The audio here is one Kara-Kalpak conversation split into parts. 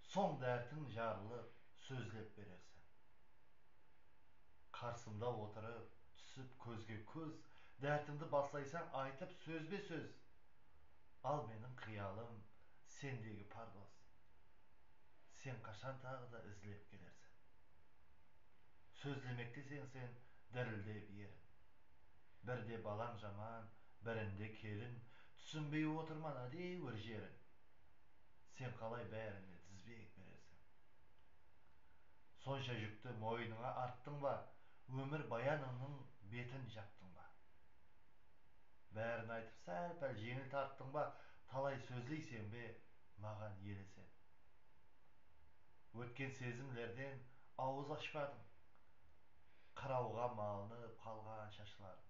Soń dártiń jarlı sózlep berersen. Qarsımda otırıp, túsip kózge kóz, Dártińdi baslaysań aytıp sózbe-sóz. Al meniń qıyalım sendegi pardoz, Sen qashan taǵı da izlep kelersen. Sózlemekteseń sen dirildep erin, Birde balań jaman, birinde kelin, Túsinbey otırman ádewir jerin. Sen qalay bárinine dizbek beresiń? Sonsha júkti moynıńa arttıń ba, ómir bayanıńnıń betin japtıń ba? Bárin aytıp sál-pál jeńil tarttıń ba, talay sózleyseń be, maǵan elesep? Ótken sezimlerden awız ashpadıń, qırawǵa malınıp qalǵan shashlarıń.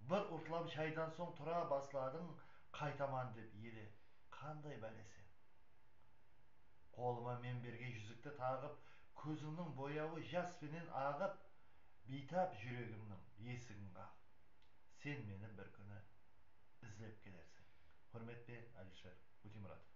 Bir urtlam shaydan soń tura basladıń, qaytaman dep ele. Qanday bálese? Qolıma men bergen júzikti taǵıp, kózińniń boyawı jas penen aǵıp, biytap júregimniń esigin qaǵıp, sen meni bir kúni izlep kelersiń. Húrmetpe Alisher Úteymuratov.